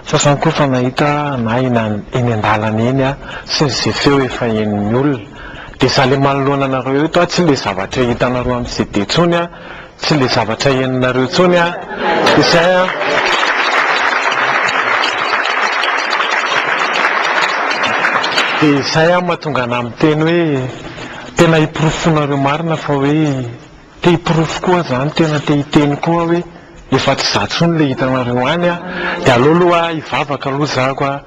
Sasany koa efa nahita na eny an-dalana eny aho sy izay feo efa henon'ny olona. Dia izaho ilay manoloana anareo eto aho, tsy ilay zavatra hitanareo amin'ny CD intsony aho, tsy ilay zavatra henonareo intsony aho. Izay an! Dia izay an mahatonga anah miteny hoe tena hiporofoinareo marina fa hoe. Te hiporofo koa zany tena te hiteny koa hoe efa tsy za tsony le hitanareo any a! de aleo aloha hivavaka aloha za ko a!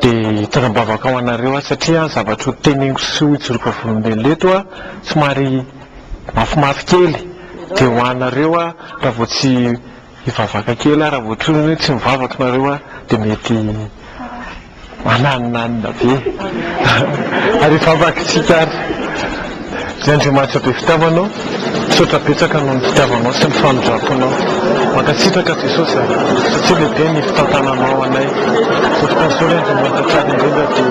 de hitondra ambavaka ho anareo a! satria ny zavatra ho teneniko sy ho ijoroako vavolombelona eto a! somary mafimafy kely de ho anareo a! raha vao tsy Hivavaka kely aho raha vao tsoiny hoe tsy mivavaka nareo aho dia mety maninanina be ary hivavaka isika ary Ry Andriamanitra be fitiavanao misaotra betsaka noho ny fitiavanao sy ny famindramponao mankasitraka Jesosy a satsia lehibe ny fitantananao anay Jesosy Kristy Ry Andriamanitra tsara indrindra dia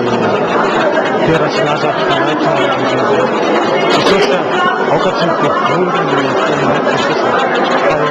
Pera sy Lazaro fanahy eto Madagasikara Jesosy a aoka tsy ho boribory ny fiainanay Jesosy a fa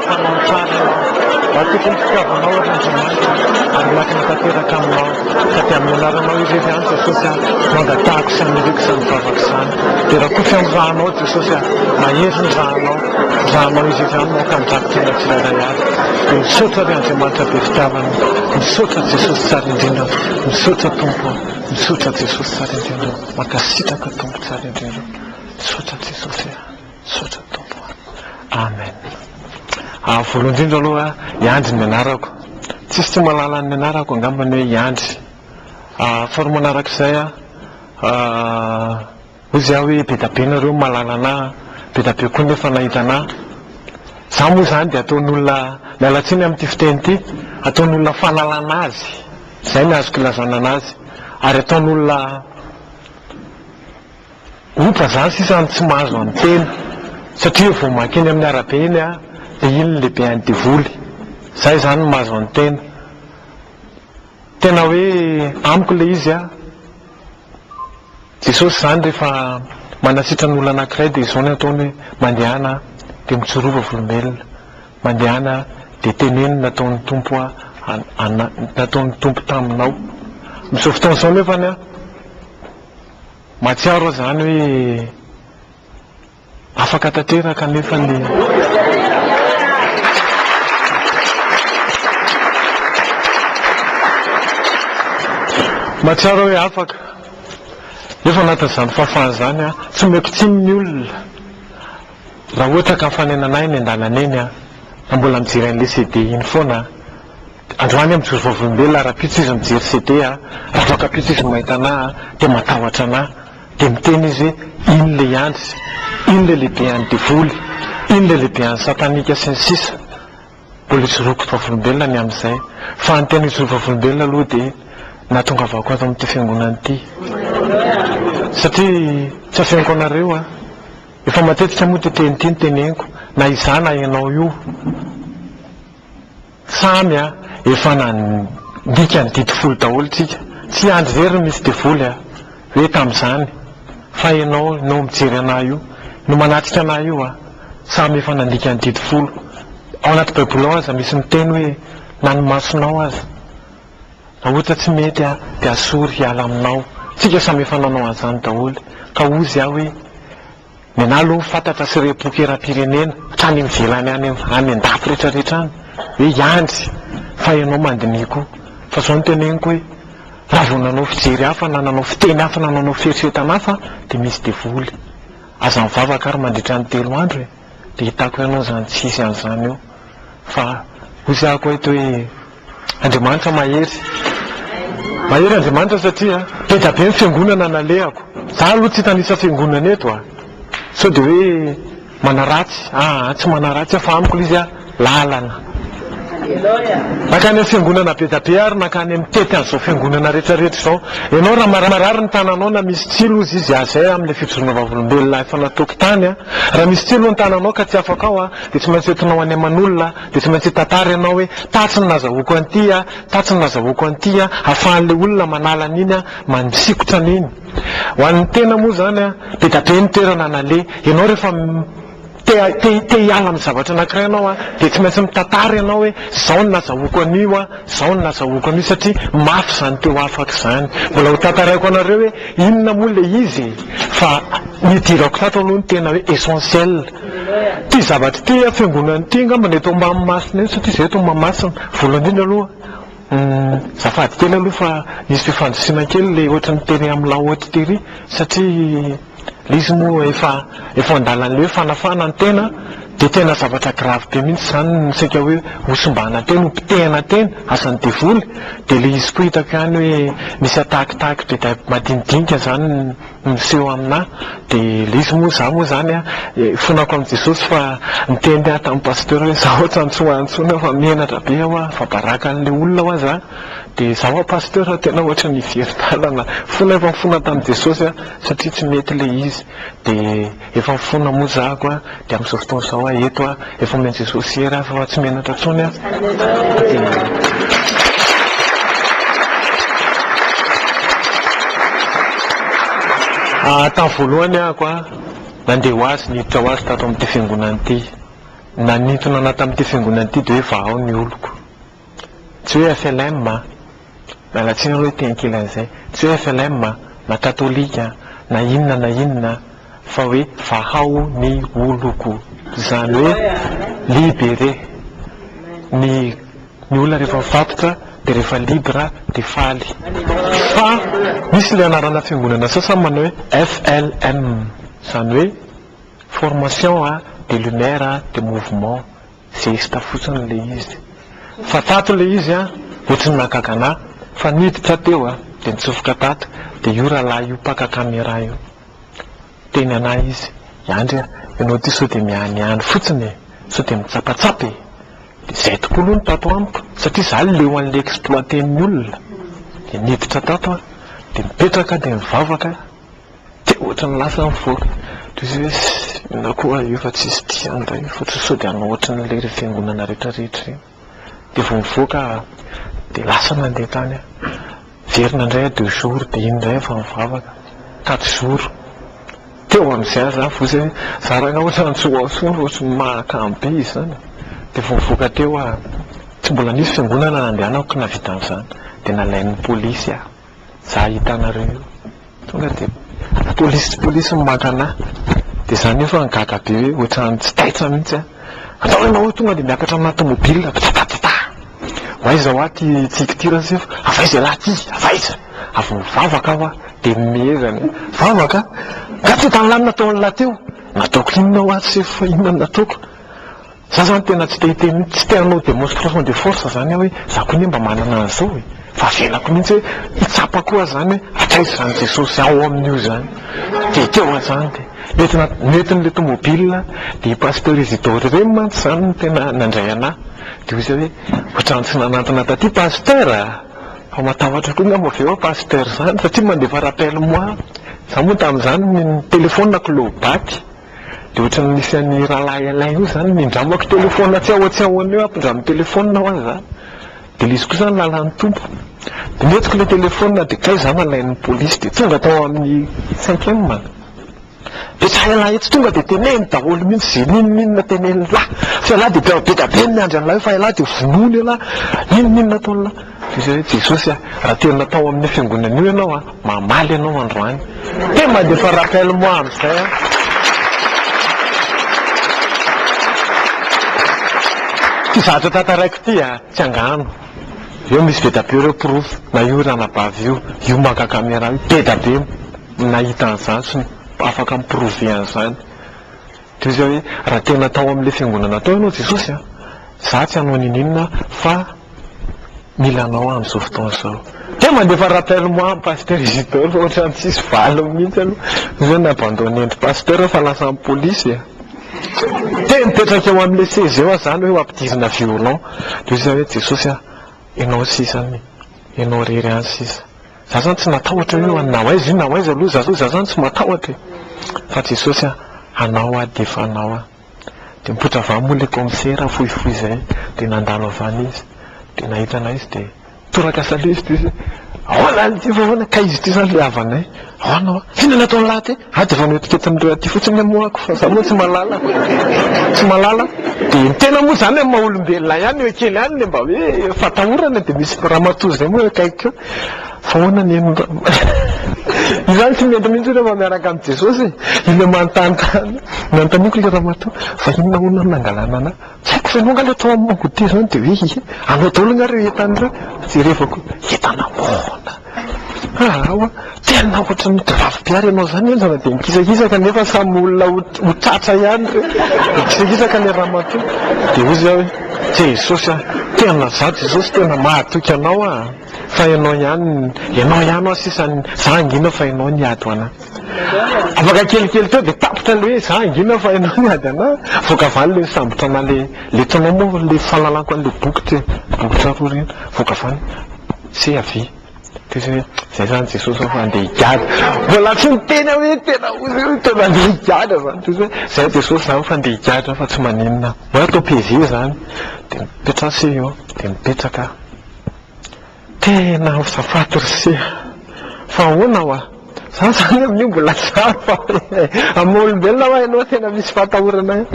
Fanaontrarana aho, raha tokony fitiavanao ary Andriamanitra ary miankina tanteraka aminao ka dia amin'ny anaranao irery any Jesosy aho no angatahako sy aniriako izany vavako izany dia rakoto amin'ny ranao Jesosy aho, mahery ny ranao, ranao irery any no aoka handrakotra olona tsirairay avy dia misaotra ry Andriamanitra be fitiavana, misaotra Jesosy tsara indrindra, misaotra Tompo o, misaotra Jesosy tsara indrindra, mankasitraka Tompo tsara indrindra, misaotra Jesosy a. Misaotra Tompo a. Amen. Ah, voalohany indrindra aloha, i Andry ny anarako. Tsisy tsy mahalala ny anarako angamba ny hoe i Andry. Ah, faharoa manarak'izay a, ah, hoy zay aho hoe be da be nareo mahalala anah a, be da be koa nefa nahita anah. Za moa zany dia ataon'olona, miala tsiny amin'ity fiteny ity, ataon'olona fanalana azy, zay ny azoko ilazana anazy, ary ataon'olona, Oka za sisa no tsy mahazo amin'ny tena satria vao maika eny amin'ny arabe eny aho dia iny ny lehiben'ny devoly. Za izany no mahazo an'ny tena. Tena hoe amiko ilay izy an. Jesosy izany rehefa manasitra ny olona anankiray dia izao no ataony hoe mandehana aho dia mitsorova volombelona. Mandehana aho dia teneno ny nataon'ny Tompo nataon'ny Tompo taminao. Amin'izao fotoana izao nefany an, Mahatsiaro aho izany hoe afaka tanteraka nefa Mahatsiaro aho hoe afaka nefa anatin'izany fahafahana izany aho tsy omeko tsiny ny olona raha ohatra ka mifanena an'ahy eny an-dalana eny aho na mbola mijery an'ilay CD iny foana aho. Androany aho mijoro vavolombelona rahampitso izy mijery CD a, raha voakampitso izy mahita anah a dia matahotra anah, dia miteny izy iny le iandry, iny le lehibean'ny devoly, iny le lehibean'ny satanika sy ny sisa Mbola ijoroako vavolombelona ny amin'izay fa ny tena hijoro vavolombelona aloha dia nahatongavako ato amin'ity fiangonana ity satria tsy afeniko anareo a Efa matetika moa ity teny ity no teneniko na izaho na ianao io Samy a! Efa nandika ny didy folo daholo tsika. Tsy andry very ny misy devoly a! Hoe tamin'izany. Fa ianao, ianao mijery anah io, no manatrika anah io a! Samy efa nandika ny didy folo. Ao anaty baiboly ao aza misy miteny hoe na ny masonao aza raha ohatra tsy mety a! dia asory hiala aminao. Tsika samy efa nanao an'izany daholo. Ka ozy aho hoe. Mianala ho fantatra sy re boky eram-pirenena hatrany ivelany any any an-dafy rehetra rehetra any hoe hiandry fa ianao mandiniha koa fa zao no teneniko hoe raha vao nanao fijery hafa na nanao fiteny hafa na nanao fieritreretana hafa dia misy devoly aza mivavaka ary mandritra ny telo andro e dia hitako ianao zany tsy hisy an'izany eo fa hoy zahako eto hoe Andriamanitra mahery. Mahery Andriamanitra satria be dia be ny fiangonana nalehako. Za aloha tsy hitanisa fiangonana eto a. Sao dia hoe manaratsy, aa tsy manaratsy aho fa amiko ilay izy a lalana. Nankany amin'ny fiangonana be dia be ary nankany mitety an'izao fiangonana rehetra rehetra izao. Ianao raha marary ny tananao na misy tsilo hozy izy a zay amin'ilay fijoroana vavolombelona efa nataoko tany a. Raha misy tsilo ny tananao ka tsy afaka ao a dia tsy maintsy entinao any aman'olona. Dia tsy maintsy hitantara ianao hoe, tatsy no nazahoako an'ity an, tatsy no nazahoako an'ity an, hahafahan'ilay olona manala an'iny an, manisikotra an'iny. Ho an'ny tena moa izany an, be dia be ny toerana naleha. Ianao rehefa te te hiala amin'ny zavatra anankiray ianao an, dia tsy maintsy mitantara ianao hoe, izao no nazahoako an'io an, izao no nazahoako an'io satria mafy izany teo afaka izany. Mbola ho tantaraiko anareo hoe, inona moa ilay izy e! Fa ny hidirako tato aloha no tena hoe essentiel. Ity zavatra ity fiangonana ity angamba ny eto ambany masina eo satria izay eto Mahamasina. Voalohany indrindra aloha azafady kely aloha fa nisy fifandrisiana kely ilay ohatran'ny tery amin'ny la haute tery satria ilay izy moa efa efa an-dalan'ilay hoe fanafahana ny tena dia tena zavatra grave be mihitsy izany no saika hoe hosimbana teny, hopotehina teny, asan'ny devoly dia ilay izy koa hitako ihany hoe misy atakitaky be dia madinidinika izany. Miseho aminà dia ilay izy moa izaho moa izany an, ifonako amin'i Jesosy fa niteny aho tamin'ny pasteur hoe izaho hoatran'ny antsoantsoina fa menatra be aho an, fa baraka an'ilay olona ho'a za, dia izaho ho'a pasteur tena hoatran'ny very-dalana, fona efa nifona tamin'i Jesosy aho satria tsy mety ilay izy, dia. Efa mifona moa za ko a, de amzao fotoana zao a eto a, efa omeny Jesosy hery a, fa tsy menatra tsony a, de tam voalohany ah ko a nande ho azy niditra ho azy tato amty fiangonana ity, nanintona ana tamty fiangonana ity de hoe vahao ny oloko. Tsy hoe FLM a! Miala tsiny aloha hoe te ankilany izay. Tsy hoe FLM a! na katolika a! na inona na inona a! fa hoe vahao ny oloko! izany hoe libere! ny ny olona rehefa mifatotra dia rehefa libre dia faly! fa misy ilay anarana fiangonana sasany manao hoe FLM! izany hoe formation a! de lumière a! de mouvement! Zesta fotsiny le izy fa tato le izy a ohatrin'ny naka gana fa niditra teo a de nitsofoka tato de io ralahy io mpaka camera io niteny anah izy iandry a enao ty sao de mianiany fotsiny e sao de mitsapatsapa e de zay tokoa aloha no tato amiko satria za leo anle exploiter ny olona de niditra tato a de mipetraka de mivavaka Dia ohatran'ny lasa nivoaka. Toy izay hoe inona koa io fa tsisy tia an-dray io fa sao dia hanao ohatran'ilay fiangonana rehetra rehetra ireny. Dia vao mivoaka aho dia lasa nandeha tany aho. Very nandray aho deux jours dia iny indray aho vao nivavaka. Quatre jours. Teo amin'izay aza aho vao izay za rangahy ohatran'ny tsy ho ao ohatran'ny mahakamo be izany. Dia vao nivoaka teo aho. Tsy mbola nisy fiangonana nandehanako nahavita an'izany. Dia nalain'ny polisy aho. za ahita anareo io tonga de polisy tsy polisy no maka anah de za nefa nigaga be hoe ohatran'ny tsy taitra mihitsy a atao hoe nao tonga de miakatra amina tomobila patatatata ho aiza hoa ty tsiky ty raha sefo avaiza ialahy ty avaiza avy mivavaka aho a de mihezany vavaka ka tsy hitan'ny lahy nataon'ilahy teo nataoko inona hoa sefo inona no nataoko Za zany tena tsy te hiteny mihitsy, tsy te hanao demonstration de force zany aho hoe za koa anie mba manana an'izao e! fa avelako mihitsy hoe hitsapa koa aza zany hoe hatraiza izany Jesosy ao amin'io zany dia ekeo aza zany dia nety na nety n'ilay tomobile dia i Pasteur Isidore ireny mantsy izany no tena nandray anah dia hoy izy hoe ohatran'ny tsy nanantona taty Pasteur a! fa matahotra koa angamba ve hoa Pasteur izany satria mandefa rappel moi za moa tamin'izany ny telephone-ko low-baty Dia ohatran'ny misy an'i Rahalahy Alain io izany nindramako telefaonina tsy ahoa tsy ahoana eo, ampindraminy telefaonina ho azy za. Dia ilay izy koa izany lalan'ny Tompo. Dia nentiko ilay telefaonina dia kay za nalain'ny polisy dia tonga tao amin'ny cinquième a. Dia tsy hain'lah etsy tonga dia teneno daholo mihitsy izay n'inon'inona tenenin'lah. Fa ialahy dia mpiaro be dia be ny miandry an'lah eo fa ialahy dia vonoiny ialahy, n'inon'inona ataon'lah. Izy hoe, Jesosy a, raha tena tao amin'io fiangonana io ianao a, mamaly anao androany. Te mandefa rappel moi amin'izay aho. Ity zavatra tantaraiko ity a, tsy angano. Eo misy be dia be ireo porofo, na io ranabavy io, io maka camera io, be dia be no nahita an'izany sy afaka mi-prouver an'izany. Toy izay hoe, raha tena tao amin'ilay fiangonana tao ianao Jesosy a, za tsy hanao ninininona fa mila anao aho amin'izao fotoana izao. Dia mandefa rappel moi ny Pasteur Isidore fa ohatrany tsisy valiny mihitsy aloha. Toy izay ni-abandonner ndry Pasteur aho fa lasa ny polisy e. Dia nipetraka eo amin'ilay seza eo aho izany hoe ho ampidirina violon. Toy izay hoe, Jesosy a, ianao sisa anie, ianao irery ihany sisa. Za zany tsy matahotra io an, na ho aiza io na ho aiza aloha za zao za zany tsy matahotra e! Fa Jesosy an, anao aho de efa anao an! De mipoitra avy any moa le kaomisera fohifohy zay de nandalo avy any izy de nahita anay izy de toraka salut izy de hoe ahoana an, ity fa ahoana, ka izy ity zany le havanay, ahoana hoa, inona no ataon'lah ty? Ady vao noetiketin'ireo aty fotsiny ny moako fa za moa tsy malala tsy malala dia ny tena moa zany amin'ny maha olombelona ihany eo kely ihany le mba hoe fatahorana dia misy ramatoa izay moa eo akaikiko eo fa ahoana ny an'i ramatoa izaho tsy mendry mihitsy rehefa miaraka amin'i Jesosy e ilay manontany tany nanontaniako ilay ramatoa fa inona hono no nangalana anah Tsy haiko ve ianao angaha ilay tao amin'ny Mango Tea izany dia hoe he, anao daholo angaha ireo entana ireo? Jerevako hoe entana ahoana? Aa ho'a, tena ohatran'ny gravy mpihary ianao izany henjana dia mikisakisaka nefa samy olona ho ho tratra ihany ireo. Mikisakisaka ilay ramatoa. Dia hoy izy aho hoe, Jesosy a! Tena izaho Jesosy tena mahatoky anao an! Fa ianao ihany, ianao ihany ho'a sisa ny, izaho hangina fa ianao ny hiady ho an'ahy. Afaka kelikely teo dia tapitra ilay hoe za hangina fa ianao miady anah. Avoaka valo ilay sambotra anah ilay ilay taonao moa ilay fahalalako an'ilay boky teo, bokotra roa ireny. Avoaka valo, c'est à vie. Dia izy hoe zay zany Jesosy ao fa andeha higadra. Mbola tsy niteny aho hoe tena hoe tena andeha higadra zany. Dia izy hoe zay Jesosy izany fa andeha higadra aho fa tsy maninona. Hoe atao PV izany. Dia mipetraha sy eo dia mipetraka aho. Tena azafady ry se a! Fa ahoana hoa? Za zany amin'io mbola tsara fa amin'ny maha olombelona hoa ianao tena misy fahatahorana e!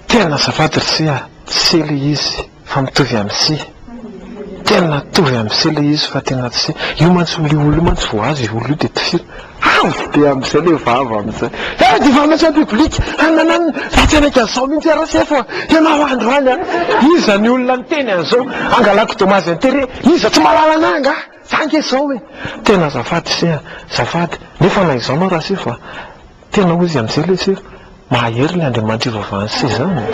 Tena azafady ry se a! Tsy se le izy fa mitovy amin'ny se. Tena mitovy amin'ny se le izy fa tena tsy se. Io mantsy olo io olo io mantsy vao azy io olo io dia tifiro. Avy dia amin'izay ilay vava amin'izay. Tonga dia efa mahatsiaro bibilika. Hananany, raha tsy hanaiky an'izao mihitsy RSF a! Ianao androany a! Iza ny olona niteny an'izao? Angalako dommage intérêt. Iza tsy mahalala anà angaha? Za ange izao e! Tena azafady se a! Azafady. Nefa na izaho manao RSF a! Tena hoy izy amin'izay ilay sefo. Mahahery ny Andriamanitra ivavahan'i Sezana e!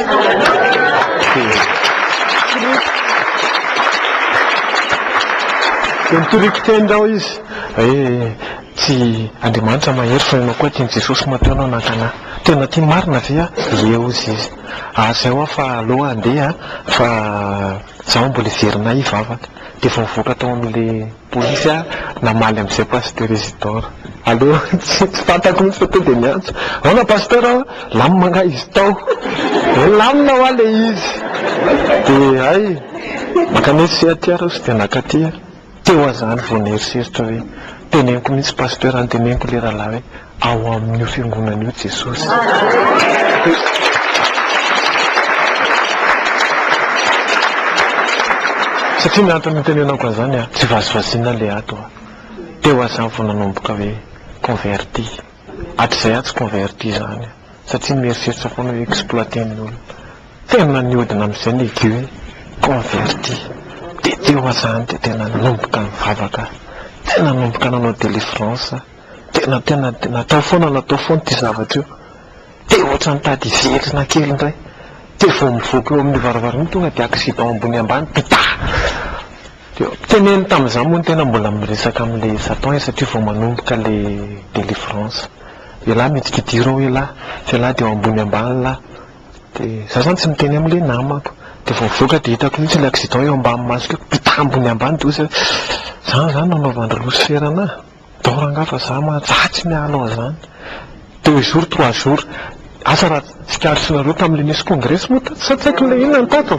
Dia nitoriako teny aho izy hoe tsy Andriamanitra mahery fa ianao koa tian'i Jesosy matoa ianao naka anah. Tena tia marina ve aho? Ie hozy izy. Ary izay hoa fa aleo handeha fa izaho mbola hiverina ahy hivavaka. Dia vao nivoaka tao amin'ilay. Polisy a, namaly amin'izay Pasitera Isidore. Allo, tsy fantako mihitsy fa tonga dia niantso. Ahoana Pasteur a, lamina angaha izy tao? Hoe lamina hoa ilay izy. Dia hay, makany hoe tsy aty ary aho tsy dia naka aty a. Teo aho izany vao nieritreritra hoe, teneniko mihitsy Pasteur a, teneniko ilay rahalahy hoe, ao amin'io Fiangonana io Jesosy. Satria ny antony nitenenako an'izany a, tsy vazivaziana ilay ato a. Teo aho izany vao nanomboka hoe converti. Hatrizay aho tsy converti izany a. Satria mieritreritra foana hoe exploiter ny olona. Tena nihodina amin'izay ny idée hoe converti. Dia teo aho izany dia tena nanomboka nivavaka aho. Tena nanomboka nanao délivrance aho. Tena tena natao foana natao foana ity zavatra io. Te ohatra nitady hiverina kely indray. Te vao mivoaka eo amin'io varavarana io tonga dia accident ambony ambany pitaha! Dia teneniny tamin'izaho moa ny tena mbola miresaka amin'ilay Satan e satria vao manomboka ilay délivrance. Elah midikidir ao elah, elah dia eo ambony ambany lah. Dia izaho izany tsy miteny amin'ilay namako. Dia vao mivoaka dia hitako mihitsy ilay accident eo ambany masoko eo, pitaha ambony ambany dia hoy izy hoe izany izany no nanaovan-dry Losifera anah? Dao rangah fa za mantsy tsy miala an'zany. Deux jours trois jours. Asa raha tsikaritrinareo tamle nisy congrès moa tato sa tsy haiko le inona tato.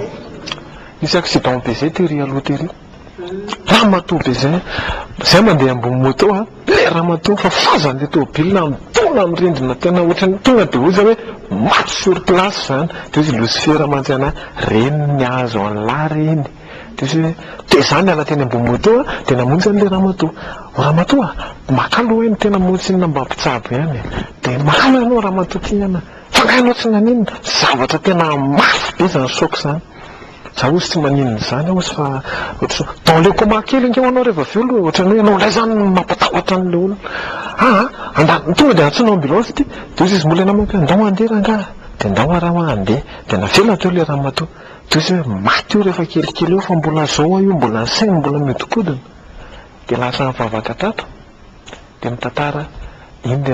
Nisy accident be zay tery aloha tery. Ramatoa be zay. Zay mandeha ambony moto a. Le ramatoa fa fazan'le tomobilina mitaona am rindrina tena ohatrany tonga de ozy hoe maty sur place zany. De ozy losifera mantsy anah. Reny ny azo anlah reny. Dia za niala teny ambony moto dia namonjy an'ilay ramatoa. O ramatoa a! Maka aloha hoe ny tena moa tsinona mba mpitsabo ihany e! Dia maka aloha ianao ramatoa ty an! Fa nga ianao tsy naninona? Zavatra tena mafy be izany choc izany. Za ozy tsy maninona izany aho ozy fa ohatran'ny hoe dans le coma kely ange hoanao reva avy eo aloha e! Ohatran'ny hoe ianao indray izany no mampatahotra an'ilay olona. Aa! Andany, tonga dia antsoina ambulance ity. Dia ozy izy molaina amiko hoe ndao handeha rangahy a! Dia ndao ara hoa handeha. Dia navela teo ilay ramatoa. Toy izay hoe maty io rehefa kelikely eo fa mbola zao a io mbola ny sainy mbola mihodinkodina dia lasa mivavaka tato dia mitantara iny le